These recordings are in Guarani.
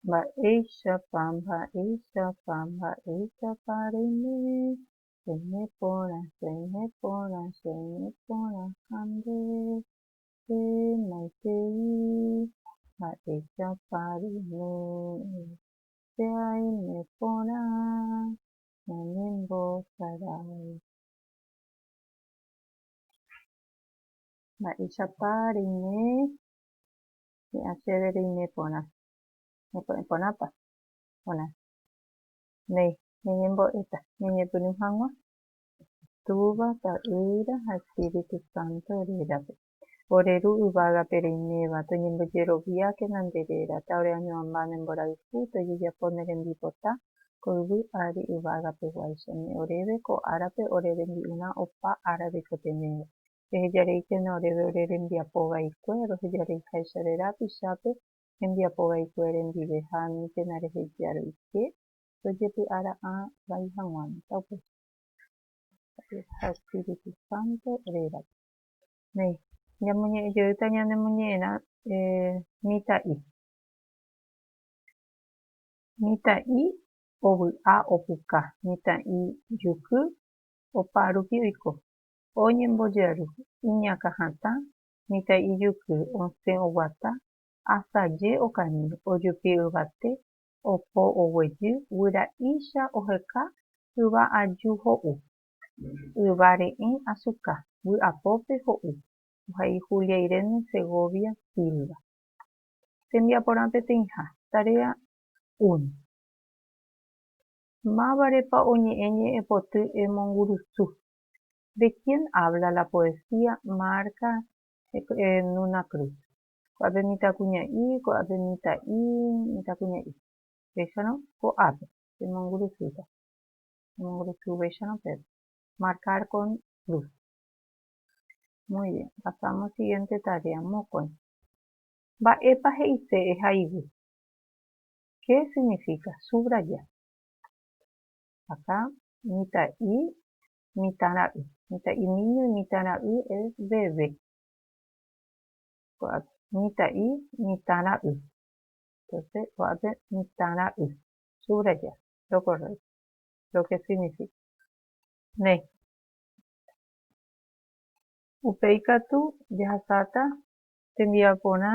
Mba'éichapa, mba'éichapa, mba'éichapa reime, reime porã, reime porã, reime porã ha nde, nde maitei, mba'éichapa reime, che aime porã ñanembosaráva. Mba'éichapa reime, Hi'ã chéve reime porã. Ñepo'ẽ porãpa? Porã. Néi, ñañembo'éta, ñañepyrũ hag̃ua. Túva, Ta'ýra ha Espíritu Santo rérape. Ore Ru yvágape reiméva, toñembojeroviákena nde réra, ta ore añoamba ne mborayhu, tojejapo ne rembipota, ko yvy ári yvágapeguáicha. Ni oréve ko árape ore rembi'urã opa ára reikotenéva. Rehejareíkena oréve ore rembiapo vaikue, rohejareiháicha re rapichápe hembiapo vaikue rendive ha aníntena reheja roike rojepy'a ra'ã vai hag̃ua mitã upéicha Dios ha Espíritu Santo rérape. Néi, ñamoñe'ẽ jeýta ñanemoñe'ẽrã mitã'i. Mitã'i ovy'a opuka, mitã'i juky opa rupi oiko. Oñembojaru iñakã hatã mitã ijyky osẽ oguata asaje okañy ojupi yvate opo oguejy guyra'icha oheka yva aju ho'u yva re'ẽ asuka vy'apópe ho'u ohai Julia Irene Segovia Silva tembiaporã peteĩha tarea un mávarepa oñe'ẽ ñe'ẽpoty emongurusu De quién habla la poesía marca en una cruz? Ko'ápe mitãkuña'i, ko'ápe mitã'i, mitãkuña'i. Péicharõ ko'ápe, pemongurusýta. Pemongurusuvéicharõ pépe. Marcar con cruz. Muy bien, pasamos siguiente tarea. Mokõi. Mba'épa he'ise eha yvy? Qué significa? Subrayar. Acá mitã'i mitãra'y. Mitã'i niño mitãra'y es bebé. Ko'ápe mitã'i mitãra'y. Entonce ko'ápe mitãra'y. Subrayar lo correcto. Lo que significa. Néi. Upéi katu jahasáta tembia porã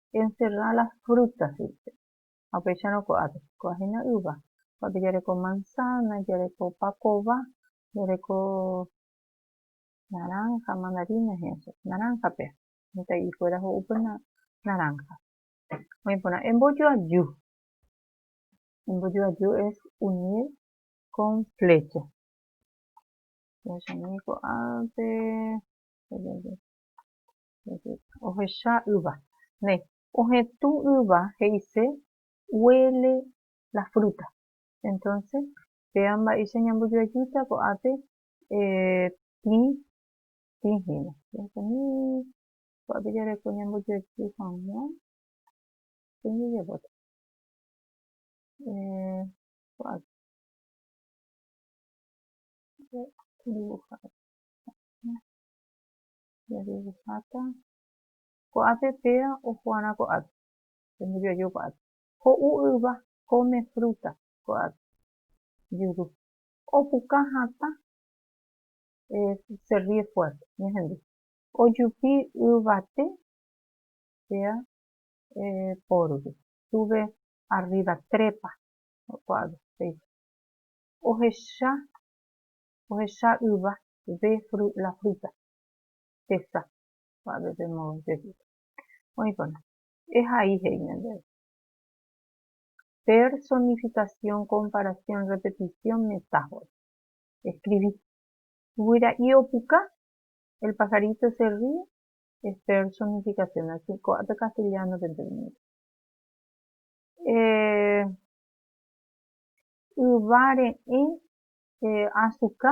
encerra las frutas dice. Ha upéicharõ ko'ápe, ko'ã hína yva, ko'ápe jareko manzana, jareko pakova, jareko naranja, mandarina he'ẽ che, naranja péa, mitã'i kuéra ho'úpe naranja. Oĩ porã, embojoaju, embojoaju es unir con flecha. Jahechamíi ko'ápe, Ohecha yva. Ne. Ohetũ yva he'ise huele la fruta. Entonce, péva mba'éicha ñambojoajúta ko'ápe tĩ, tĩ hína. Ko'ápe jareko ñambojoajy hag̃ua tĩ jajapóta. Ko'ápe. Jajeguháta ko'ápe péva ojoarã ko'ápe, tembijoaju ko'ápe. Ho'u yva, come fruta ko'ápe, juru. Opuka hatã, se ríe fuerte, ñahendu. Ojupi yvate péva pórugui, sube arriba, trepa ko'ápe, he'iha. Ohecha, ohecha yva, ve la fruta tesa pa'ave pe modo jeýta. Oĩkona, ehai he'i ñandéve. Personificación, comparación, repetición, metáfora. Escribí. Guyra'i opuka, El pajarito se ríe, es personificación. Así, ko'ápe castellano-pe ndereñói. Eh, yva reẽ eh, azuka,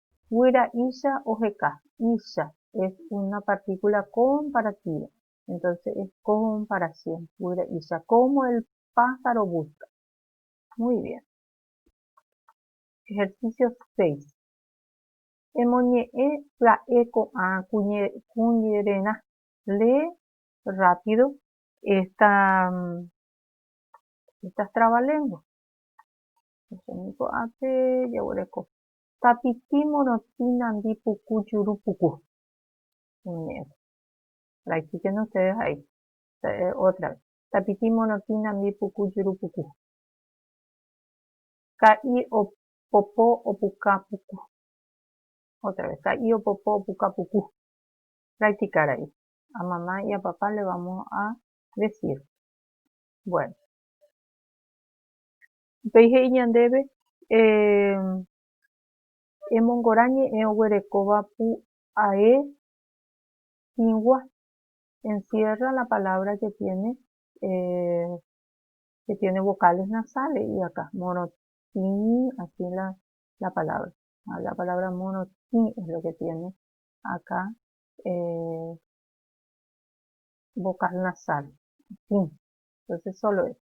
Guyra icha oheka. Icha es una partícula comparativa. Entonces es comparación. Guyra icha. Como el pájaro busca. Muy bien. Ejercicio 6. Emoñe'ẽ pya'e ko'ã kuñererã. Lee rápido esta, estas trabalenguas. Ko'ápe jaguereko. tapiti morotĩ nandi puku juru puku. Iñe'ẽta. La explicación de ustedes ha dicho. Otra vez. Tapiti morotĩ nandi puku juru puku. Ka'i opopo opuka puku. Otra vez. Ka'i opopo opuka puku. Practicar ahí. A mamá y a papá le vamos a decir. Bueno. Upéi he'i ñandéve, Emongorã ñe'ẽ oguerekóva pu ae hĩgua, encierra la palabra que tiene, que tiene vocales nasales, he'i akã, morotĩ, así la, la palabra, la palabra morotĩ es lo que tiene akã vocal nasal, tĩ, entonces solo eso.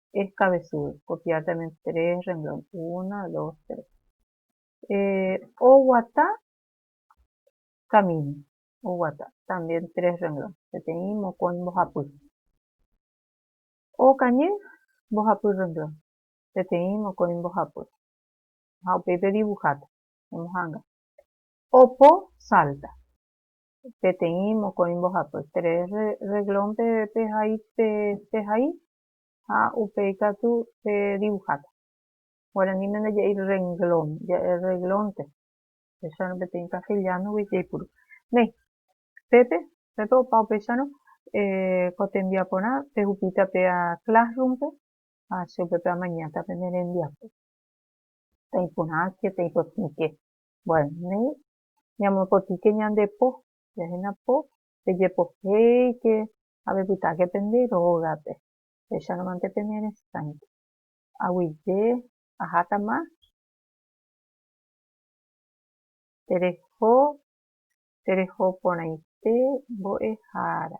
es cabezudo, copiar también tres renglón, uno, dos, tres. Eh, oguata camino, oguata, también tres renglón, peteĩ mokõi mbohapy. Okañy, mbohapy renglón, peteĩ mokõi mbohapy. Ha upéi pe dibujáta, emohanga. Opo, salta, peteĩ mokõi mbohapy, tres renglón pe, pe, pe hai, Ha upéi katu che dibuháta. Guaraníme ndaje'i rrenglón, ja'e rreglónte. Upéicharõ peteĩ kasteliánogui jaipuru. Néi, pépe, pépe opa upéicharõ ko tembiaporã pehupíta pe Classroom-pe ha che upépe amañáta pene rembiapo. Peteĩ porãke, peteĩ potĩke. Bueno, néi, ñamopotĩke ñande po. Jahína po, pejepohéike ha pepytáke pende rógape, péicharõmante pene reskáinte. Aguyje ahátama tereho tereho porãite mbo'ehára.